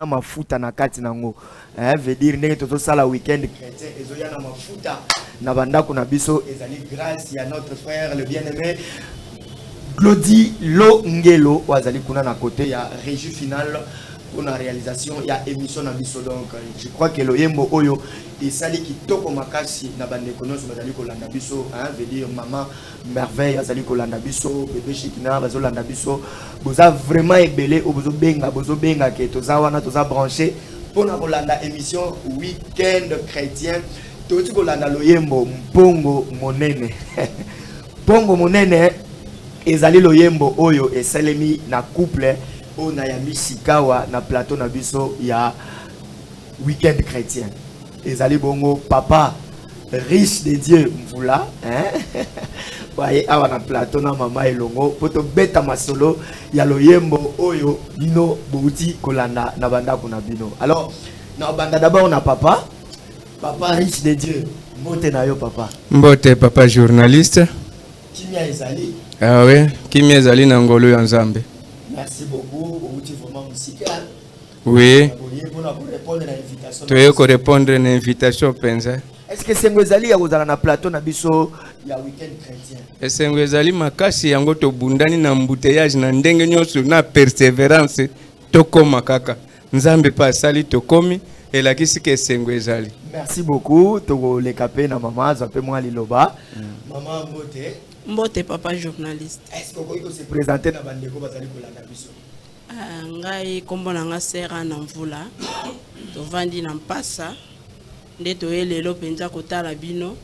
na mafuta na kati nango eh, veut dire ndenge tozosala week-end chrétien ezoya na mafuta na bandako na biso ezali grâce ya notre frère le bien aimé glodi longelo oyo azali kuna na kote ya régie finale mpona réalisation ya émission na biso donc je crois que loyembo oyo esali kitoko makasi na bandeko nyonso bazali kolanda biso veut dire mama merveille azali kolanda biso bebe shikina bazolanda biso boza vraiment ebele oyo bozobenga bozobenga ke toza wana toza branche mpo na kolanda émission weekend chrétien touti kolanda loyembo mpongo monene mpongo monene ezali loyembo oyo esalemi na couple oyo nayambi sikawa na plateau na biso ya weekend chrétien ezali bongo papa riche de dieu mvula hein? baye awa na plateau na mama elongo mpo tobeta masolo ya loyembo oyo bino bouti kolanda na bandako na bino alors na banda d'abord na papa papa riche de dieu mbote na yo papa mbote papa journaliste kimia ezali ah oui kimia ezali na ngolu ya nzambe merci beaucoup outi vraiment mosika Oui. Toye ko répondre na invitation penza. Est-ce que sengo ezali ya kozala na plateau na biso ya week-end chrétien? Esengo ezali makasi yango tobundani na embouteillage na ndenge nyonso na perseverance tokoma kaka. Nzambe pa asali tokomi elakisi ke esengo ezali. Merci beaucoup tokoleka pe na mama azwa pe mwa liloba. Mm. Mama mbote. Mbote papa journaliste. Est-ce que okoki ko se présenter na bandeko bazali kolanda biso? Ah, ngai nkombo na ngai sera na mvula tovandi na mpasa nde toye lelo mpenza kotala bino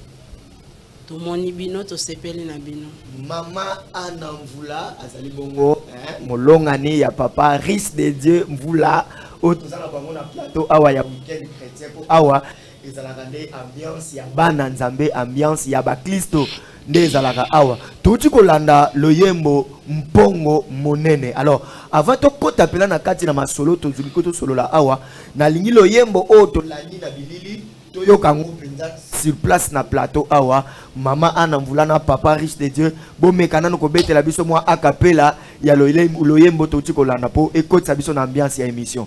tomoni bino tosepeli na bino mama ana mvula azali bongo eh, molongani ya papa ris de dieu mvula oyo toza na bango na plateau awa ya weekend chrétien mpo awa ezalaka nde ambiance ya bana nzambe ambiance ya baklisto nde ezalaka awa touti kolanda loyembo mpongo monene alors avant tokɔta mpela na kati na masolo tozwi ko tosolola awa nalingi loyembo oyo tolandi na bilili toyoka yango mpenza sur place na plateau awa mama ana mvula na papa riche de dieu bomeka nano kobetela biso mwa akapela ya loyembo touti kolanda mpo ekotisa biso na ambiance ya émission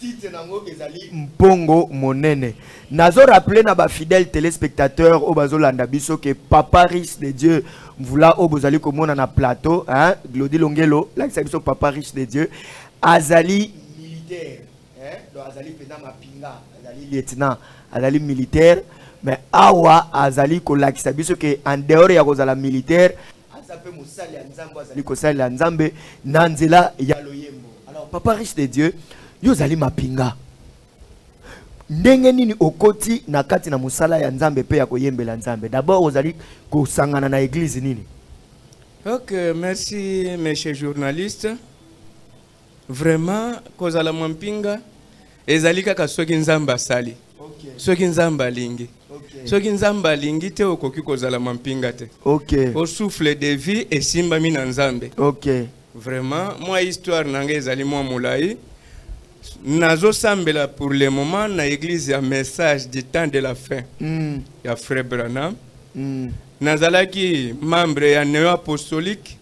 titre nango ezali mpongo monene nazo rappeler na ba fidèles téléspectateurs oyo bazolanda biso ke papa riche de dieu mvula oyo bozali komona na plateau hein? glodi longelo lakisa biso papa riche de dieu azali militaire hein? donc azali mpenza mapinga azali lieutenant azali militaire mais awa azali kolakisa biso ke en dehors ya kozala militaire aza mpe mosali ya nzambe azali kosalela nzambe na nzela ya loyembo alors papa riche de dieu yo ozali mapinga ndenge nini okoti na kati na mosala ya nzambe mpe ya koyembela nzambe d'abord ozali kosangana na eglize nini ok merci monsieur journaliste Vraiment kozala mwampinga ezali kaka soki Nzambe asali. Okay. Soki Nzambe alingi. Okay. Soki Nzambe alingi te okoki kozala mampinga te. Okay. O souffle de vie esimbami na Nzambe. Okay. Vraiment mwa histoire na ngai ezali mwa molai. nazosambela pour le moment na église ya message du temps de la fin mm. ya frère branham mm. nazalaki membre ya neo apostolique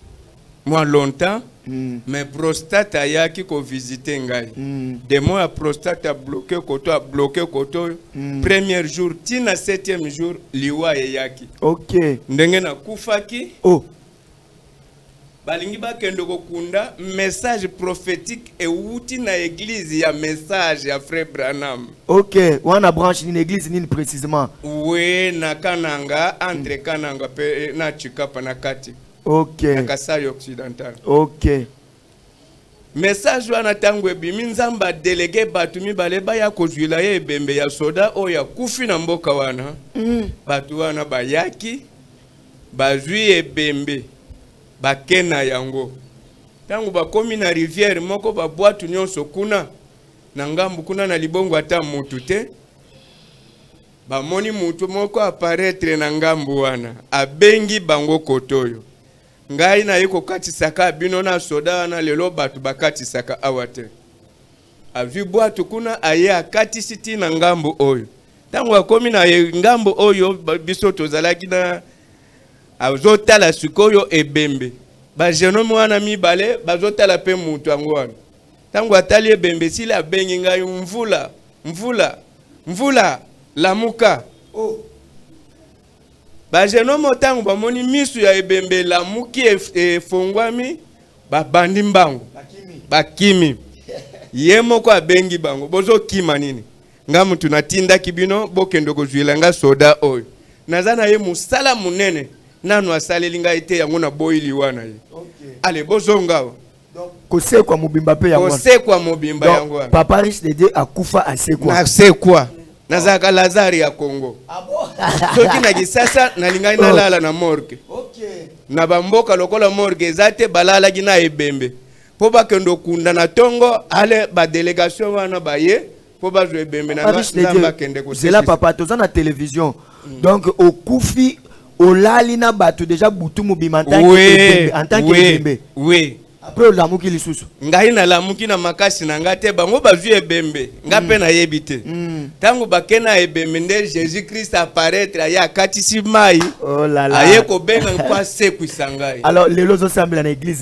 mwa longtemps mm. mais prostate ayaki kovisite ngai mm. demo ya prostate abloke koto abloke koto oyo mm. premier jour ti na septième jour liwa eyaki okay. ndenge nakufaki oh. balingi bakende kokunda message prophétique ewuti na église ya message ya frère branham ok wana branche nini église nini précisément we na kananga entre mm. kananga mpe eh, na chikapa na kati ok ya kasai occidental ok message wana ntango ebimi nzambe adelege bato mibale baya kozwila ye ebembe ya soda oyo akufi na mboka wana mm. bato wana bayaki bazwi ebembe bake na yango ntango bakomi na rivière moko babwatu nyonso kuna na ngambo kuna na libongo ata motu te Bamoni mutu moko aparetre na ngambu wana, abengi bango kotoyo. Ngai naye kokatisaka bino na soda wana, lelo batu bakatisaka awa te. Azwi bwatu kuna, aye akatisi ti na ngambu oyo. Tango akomi na ngambu oyo, biso tozalaki na azotala sikoyo ebembe. Ba jeune homme wana mibale bazotala pe mutu yango wana. ntango atali ebembe esili abengi ngai mvula mvula mvula lamuka oh. bagenome ntango bamoni misu ya ebembe elamuki efongwami babandi mbangu bakimi ye moko abengi bango bozokima nini nga mutu natindaki bino bokende kozwila nga soda oyo naza na ye mosala monene nanu asaleli ngai te yango naboyi liwa na ye okay. ale bozonga awa kosekwa mobimba mpe yango kosekwa mobimba yango wana papa riche de dieu akufa asekwa asekwa nazalaka lazare ya congo ah soki na kisasa nalingaki oh. nalala na morgue na bamboka lokola morgue eza te balalaki na ebembe mpo bakende okunda na ntongo ale badelegation wana baye mpo bazwa ebembe na nzambe akende kosela papa toza na television mm. donc okufi olali na bato deja butu mobima en tant que oui après olamuki lisusu ngai nalamuki na makasi na ngai te bango bazwi ebembe ngai mpe mm. nayebi te ntango mm. bake na ebembe nde jésus christ apparaître aye akatisi mai oh aye kobenga mpo asekwisa ngai alors lelo ozosambela na église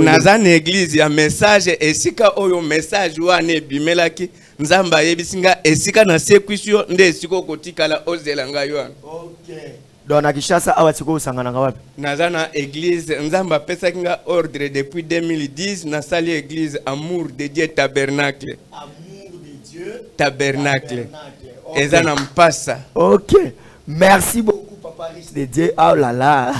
naza na eglize ya message esika oyo message wana ebimelaki nzambe ayebisi nga esika nasekwisi yo nde esika okotikala ozela ngai wana okay. donc na kinshasa awa sikoyo osanganaka wapi naza na église nzambe apesaki nga ordre depuis 2010 nasali église amour de dieu tabernacle amour de dieu tabernacle, Okay. eza na mpasa ok merci beaucoup papa riche de dieu oh là là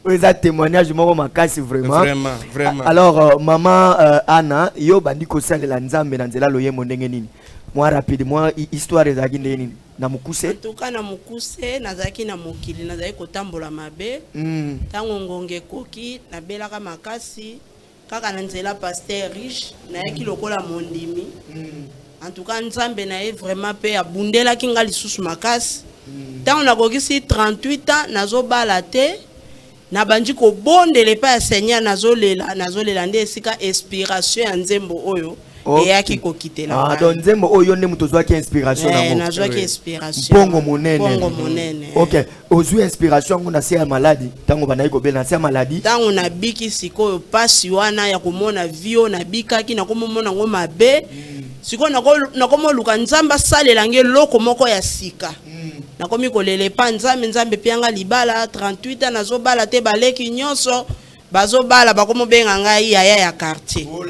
oyo eza témoignage moko makasi vraiment vraiment vraiment alors euh, maman euh, Anna yo bandi kosalela nzambe na nzela loyembo ndenge nini mwa rapide mwa histoire ezalaki ndenge nini na mokuse tuka na mokuse nazalaki na mokili nazalaki kotambola mabe ntango hmm. ngonga ekoki nabelaka makasi kaka na nzela pasteur riche nayaki lokola mondimi mm. en tout cas nzambe na ye vraiment mpe abundelaki nga lisusu makasi mm. ntango nakokisi 38 ans nazobala te nabandi kobondela epai ya seigneur nazolela nazolela nde esika inspiration ya nzembo oyo Okay. eyaki kokitela Ah, ngai. donc nzembo oyo nde moto ozwaki inspiration Eh, nango nazwaki inspiration. mpongo monene Mpongo monene. ok ozwi inspiration yango na se ya maladi ntango bandaki kobela na se ya maladi ntango nabiki sikoyo mpasi wana ya komona vi oyo nabikaki nakomomona yango mabe sikoyo nako- nakomoluka nzambe asalela nge eloko moko ya sika nakomi kolela epa nzambe nzambe epianga libala 38 ans nazobala te baleki nyonso bazobala bakomobenga ngai yaya ya quartier oh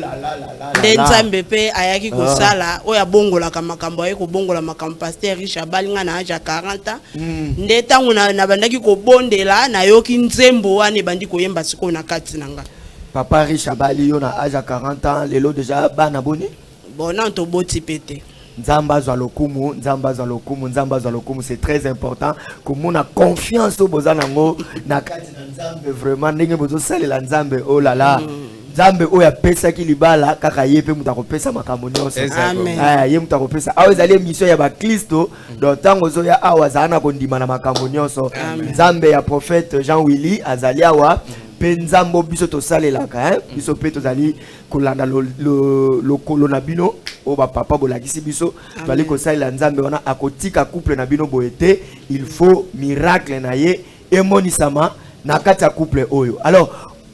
nde nzambe mpe ayaki ah. kosala oyo abongolaka makambo aye kobongola makambo paster riche abali ngai na age ya 40 ans hmm. nde ntango nabandaki kobondela nayoki nzembo wana ebandi koyemba sikoyo na kati na ngai papa riche abali yo na age ya 40 ans lelo deja bana boni Bon, non, to boti pete. nzambe azwa lokumu nzambe azwa lokumu nzambe azwa lokumu c'est très important komona confiance oyo boza nango na kati na nzambe vraiment ndenge bozosalela nzambe oh la la mm. nzambe oyo apesaki libala kaka ye mpe moto akopesa makambo nyonso eh, ye moto akopesa awa ezali émission ya baklisto mm. donc ntango ozoya awa azala na kondima na makambo nyonso nzambe ya prophète jean willy azali awa mm. mpe nzambe biso tosalelaka eh? biso mpe tozali kolanda lokolo na bino oyo bapapa bolakisi biso toali kosalela nzambe wana akotika couple na bino boye te il faut miracle na ye emonisama na kati ya couple oyo alors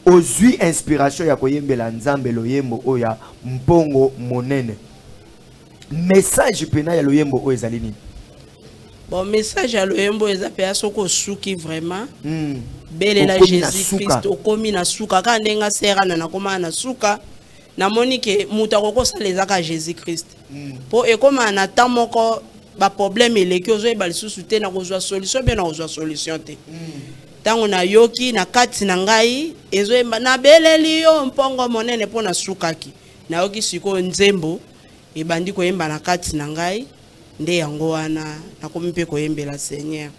ozwi inspiration ya koyembela nzambe loyembo oyo ya mpongo monene message mpena ya loyembo oyo ezali nini bon message ya loyembo eza mpe ya soki osuki vraiment mm. belela jésus christ okomi na suka kaka ndenge aserana nakomaka na suka namoni ke moto akoki kosala ezaka jésus christ mpo mm. ekomaka na temps moko baproblème eleki ozoyeba lisusu te na kozwa solution mpe na kozwa solution te ntango mm. nayoki na kati na ngai ezoyemba nabeleli yo mpongo monene mpo nasukaki nayoki sikoyo nzembo ebandi koyemba na kati na ngai nde yango wana nakomi mpe koyembela seigneur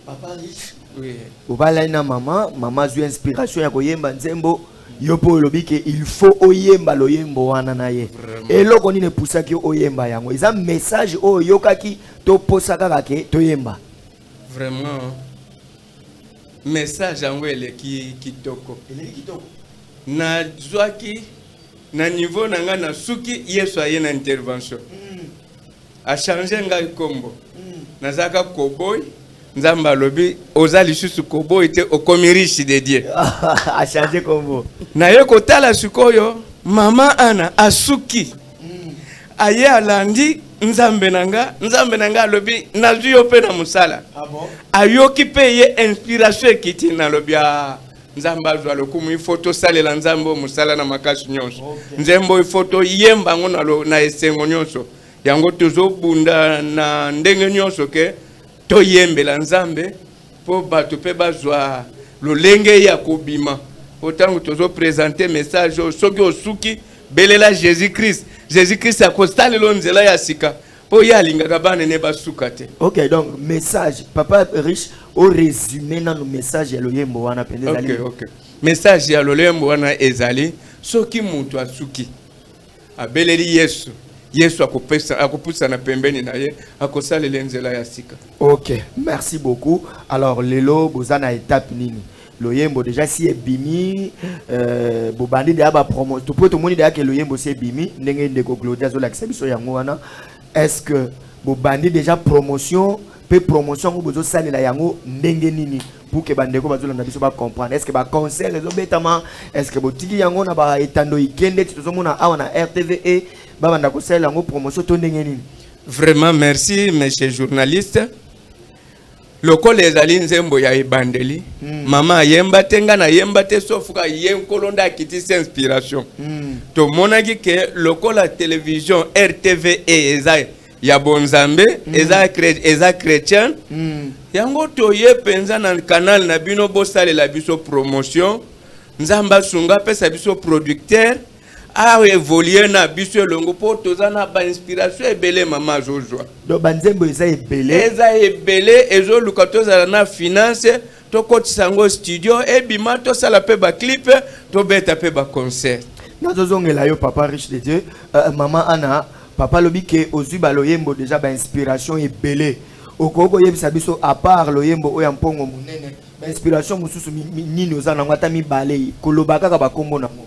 papa riche oui. obalai na mama mama azwi inspiration ya koyemba nzembo yo mpo olobi ke il faut oyemba loyembo wana na ye eloko nini epusaki yo oyemba yango eza message oyo oyokaki toposa kaka ke toyemba vraiment message yango eleki kitoko nazwaki na niveau na nga na suki yesu aye na intervention mm. achange ngai kombo mm. nazalaka koboy nzambe alobi oza lisusu koboyi te okomi riche de dieu achange kombo naye kotala sikoyo mama ana asuki mm. aye alandi nzambe na nga nzambe na nga alobi nazwi yo mpe na mosala ah ayoki mpe ye inspiration ekiti nalobi a ah, nzambe azwa lokumu ifo tosalela nzambe oyo mosala na makasi nyonso okay. nzembo ifo toyemba yango na, na esengo nyonso yango tozobunda na ndenge nyonso ke toyembela nzambe mpo bato mpe bazwa lolenge ya kobima mpo ntango tozopresente message oyo soki osuki belela jésus christ jésus christ akosalelo nzela ya sika po ye alingaka bana ne basuka te ok donc message papa riche au résumé na nos messages ya loyembo wana mpenza ezali ok ok message ya loyembo wana ezali soki moto asuki abeleli yesu yesu akopusana pembeni na ye akosalela nzela ya sika ok merci beaucoup alors lelo boza na étape nini loyembo deja si ebimi euh, bobandi deya bapromo po tomoni deya ke loyembo si ebimi ndenge ndeko glodi azolakisa biso yango wana est ce que bobandi deja promotion mpe promotion yango bozosalela yango ndenge nini pour ke bandeko bazolanda biso bacomprendre est ce que baconcert ezobetama est ce que botiki yango na baetando ikende ti tozomona awa na rtve e, babanda kosalela yango promotion to ndenge nini vraiment merci monsieur journaliste lokola ezali nzembo ya ebandeli mm. mama ayemba te ngai nayemba te sofuka ye nkolo nde akitisi inspiration mm. tomonaki ke lokola television rtve eza ya bonzambe mm. eza, kre, eza chrétien mm. yango toye mpenza na kanal na bino bosalela biso promotion nzambe asunga apesa biso producteur aevolue na biso elongo mpo toza na bainspiration ebele mama azozwa donc banzembo eza ebele eza ebele ezoluka tozala na finance tokotisa yango studio ebima tosala mpe baclipe tobeta mpe baconcert nazozongela yo papa riche de dieu uh, mama ana papa alobi ke ozwi baloyembo deja bainspiration ebele okoki koyebisa biso apart loyembo oyo ya mpongo monene bainspiration mosusu nini oza nango ata mibale koloba kaka bakombo nango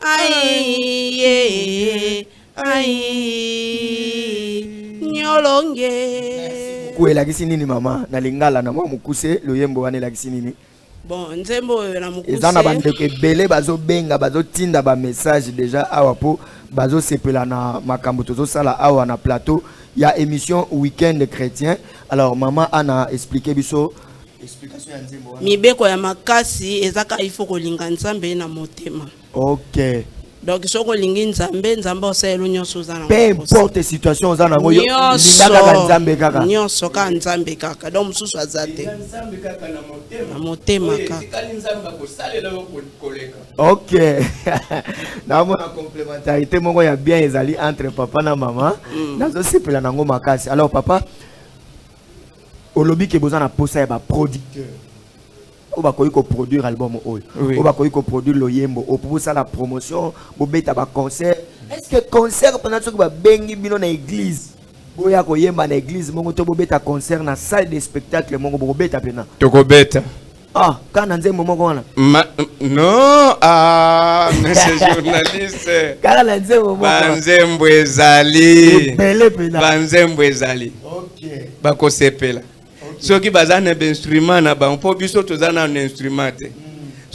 aiye ai nyolonge ko elakisi nini mama na lingala na mwa mokuse loyembo wana elakisi nini bon nzembo oyo na mokuse eza na bandeko ebele bazobenga bazotinda bamessage deja awa mpo bazosepela na makambo tozosala awa na plateau ya émission week-end chrétien alors mama ana explike biso mibeko ya makasi ezaka ifo kolinga nzambe na motema okay. donc soki olingi nzambe nzambe osalelo nyonso oza na peu importe situation oza nango linga kaka nzambe kaka nyonso kaka nzambe kaka donc mosusu aza te na motema kaka ok naomona complémentarité moko ya bien ezali entre papa na mama mm. nazosepela nango makasi alors papa olobi ke boza na posa ya ba producteur oyo bakoki koproduire album oyo oyo bakoki koproduire loyembo oyo mpo bosala promotion bobeta baconcert est ce que concert mpena soki babengi bino na église boya koyemba na église moko to bobeta concert na salle de spectacle moko bokobeta mpena tokobeta Ah, quand on nzembo moko wana. Ma non, ah, monsieur journaliste. Kala na nzembo moko. Banzembo ezali. Ebele pena. Banzembo ezali. Okay. Bako sepela. Okay. Soki baza na instrument na bango, po biso toza na instrument te. Hmm.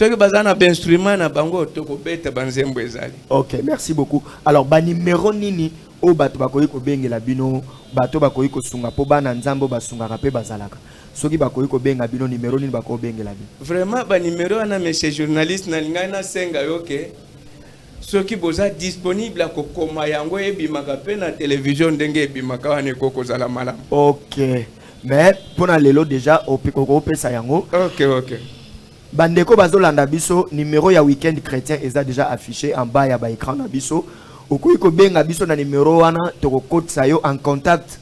soki baza na bainstrument na bango tokobeta banzembo ezali ok merci beaucoup alors banimero nini oyo bato bakoki kobengela bino bato bakoki kosunga mpo bana nzambe basungaka mpe bazalaka soki bakoki kobenga bino numero nini bakoki kobengela bino vraiment banumero wana monsieur journaliste nalingaki nasenga yo ke soki boza disponible ya kokoma yango ebimaka mpe na televizio ndenge ebimaka wana ekoki kozala malamu ok mais mpo na lelo deja okopesa yango ok ok bandeko bazolanda biso numero ya weekend chrétien eza deja affiché en bas ya baécran na biso okoki kobenga biso na numero wana tokokotisa yo en contact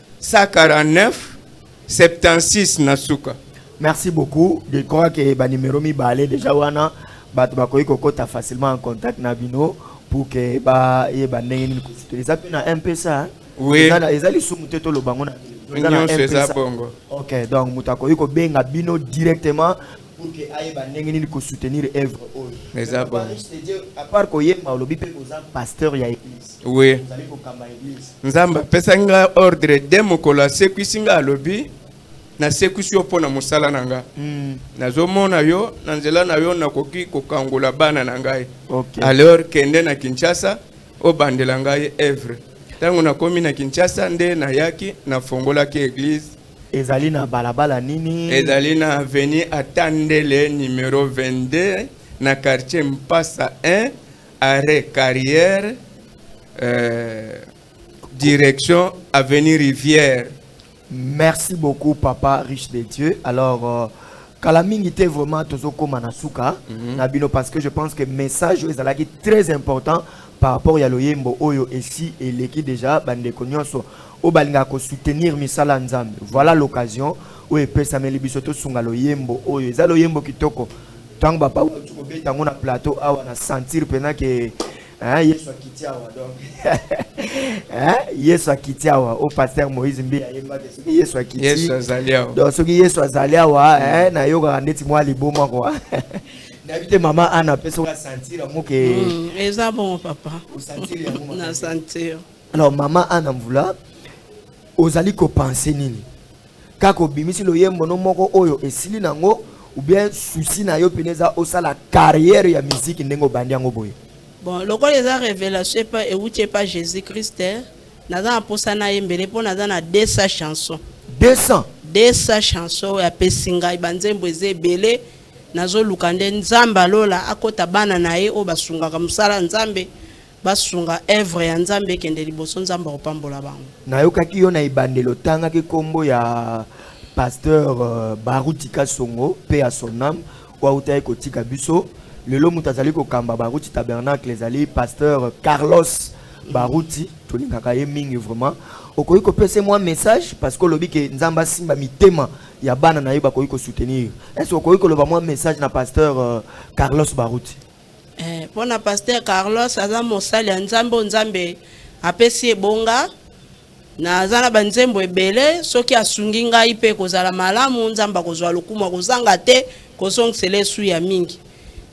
149 76 na suka merci beaucoup je crois que ba numéro mibale déjà wana bato bakoki kokota facilement en contact na bino pour que bayeba ndenge nini eza mpe na mpesa hein? oui. eza lisumu te toloba yango nyonso eza bongo ok donc moto akoki kobenga bino directement pour que ayeba ndenge nini kosoutenir œuvre oyo eza bongo à part koyemba olobi mpe oza pasteur ya église oui nzambe apesaki nga ordre de mokolo asekwisi nga alobi nasekwisi yo mpo na mosala na nga mm. nazomona yo na nzela na yo nakoki kokangola bana na ngai okay. alors kende na kinshasa obandela ngai evre ntango nakomi na kinshasa nde nayaki nafongolaki eglise ezali na balabala nini ezali na aveni atandele numero 22 na quartier mpasa 1 arrêt carrière euh, direction avenue rivière merci beaucoup papa riche de dieu alors euh, kala mingi te vraiment tozokóma na suka mm -hmm. na bino parce que je pense que message oyo ezalaki très important par rapport ya loyembo oyo esi eleki déjà bandeko nyonso oyo balingaka kosoutenir misala ya nzambe voilà l'occasion oyo epesameli biso tosunga loyembo oyo eza loyembo kitoko Tango ba paulo tu kobeta ngo na plateau awa na sentir pena ke hein Yesu akiti awa donc hein Yesu akiti awa au pasteur Moïse Mbi ayemba ke soki Yesu akiti Yesu azali awa donc soki Yesu azali awa hein na yoka ndeti mwa liboma quoi nayebi te mama ana mpe soki asentir yango ke mm, eza bongo papa na sentir alors mama ana mvula ozali kopense nini kaka obimisi loyembo no moko oyo esili nango ou bien souci na yo mpena eza osala carrière ya miziki ndenge obandi yango boye bon lokola eza révélation epa euti epa jésus christ eh, naza na mposa na ye mbele mpo naza na 200 chanson 200 200 chanson oyo apesi ngai banzembo eza ebele nazoluka nde nzambe alola akota bana na ye oyo basungaka mosala nzambe basunga œuvre ya nzambe ekende liboso nzambe akopambola bango nayokaki yo na ebandeli otangaki nkombo ya pasteur euh, baruti kasongo mpe ya son ame oyo autaki kotika biso lelo moto azali kokamba baruti tabernacle ezali pasteur carlos baruti tolingaka ye mingi vraiment okoki kopesa mwa message parce que olobi ke nzambe asimba mitema ya bana na ye bakoki kosoutenir est ce okoki koloba mwa message na pasteur euh, carlos baruti Eh, mpo na paster carlos aza mosali ya nzambe oyo nzambe apesi ebonga naza na banzembo ebele soki asungi ngai mpe kozala malamu nzambe akozwa lokumu akozanga te kozongisela esu ya mingi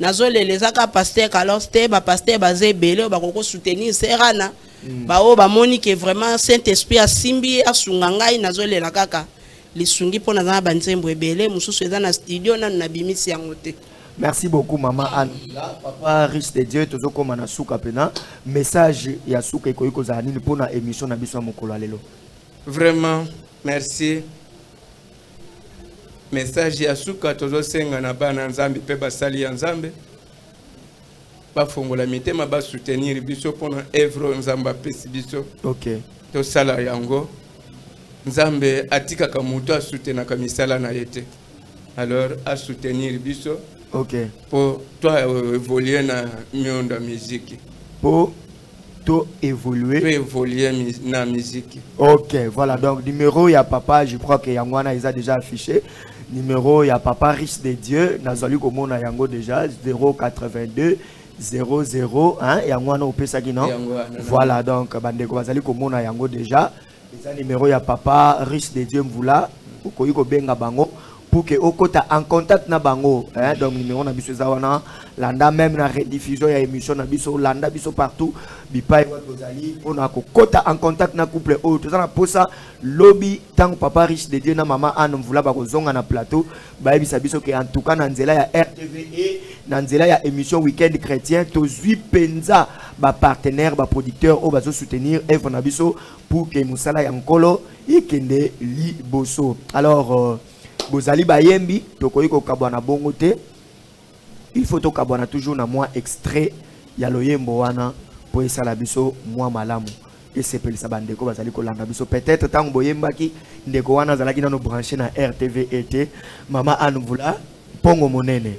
nazolela eza kaka paster carlos te bapaster baza ebele oyo bakoki kosoutenir serana mm. baoyo bamoni ke vraiment saint esprit asimbi asunga ngai nazolela kaka lisungi mpo naza na banzembo ebele mosusu eza na studio nanu nabimisi yango te merci beaucoup mama anne papa riche de dieu tozokóma na suka mpena message ya suka ekoki kozala nini mpo na émission na biso ya mokolo ya lelo vraiment merci message ya suka tozosenga na bana nzambe mpe basali ya nzambe bafongola mitema ba soutenir biso pona evre nzambe apesi biso okay. tosala yango nzambe atikaka moto asutenaka misala na ye te alors asoutenir biso okay. po to evolue na miondo ya miziki po to évoluer to évoluer na musique OK voilà donc numéro ya papa je crois que yango wana eza déjà affiché numéro ya papa riche de Dieu nazali komona yango déjà 082 00 hein yango wana opesaki non voilà donc bandeko bazali komona yango déjà eza numero ya papa riche de dieu mvula okoki kobenga bango pour que okota en contact na bango hein? donc numéro na biso eza wana landa même na rediffusion ya émission na biso landa biso partout bipai wapi ozali mpona kokota en contact na couple oyo toza na posa lobi ntango papa riche de dieu na mama anne mvula bakozonga na plateau bayebisa biso ke entouka na nzela ya rtv e na nzela ya émission weekend chrétien tozwi mpenza bapartenaire baproducteur oyo bazosoutenir evre na biso pour ke mosala ya nkolo ekende liboso alors euh, bozali bayembi tokoki kokabwa na bongo te il faut tokabwana toujours na mwa extrait ya loyembo wana mpo esala biso mwa malamu esepelisa bandeko bazali kolanda biso peut-être ntango boyembaki ndeko wana azalaki nano branche na rtv ete mama anne mvula mpongo monene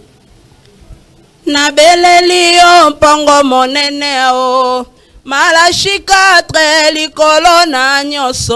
nabeleli yo mpongo monene o malashikatre likolo na nyonso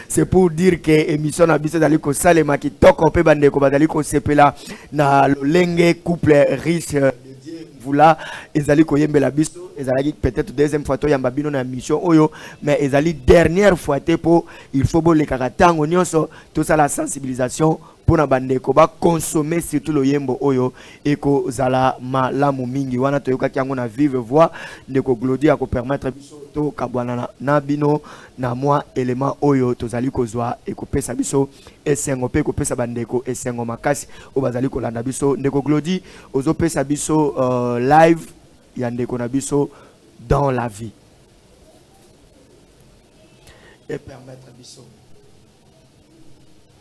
c'est pour dire que émission na biso ezali kosalema kitoko mpe bandeko bazali kosepela na lolenge couple riche euh, de dieu mvula ezali koyembela biso ezalaki peut-être deuxième fois toyamba bino na mission oyo mais ezali dernière fois te mpo il faut bolekaka ntango nyonso tosala sensibilisation mpo na bandeko bakonsome surtout loyembo oyo ekozala malamu mingi wana toyokaki yango na vive voix ndeko glodi akopermettre biso tokabwana na bino na mwa elema oyo tozali kozwa ekopesa biso esengo mpe ekopesa bandeko esengo makasi oyo bazali kolanda biso ndeko glodi ozopesa biso uh, live ya ndeko na biso dans la vie epermettre biso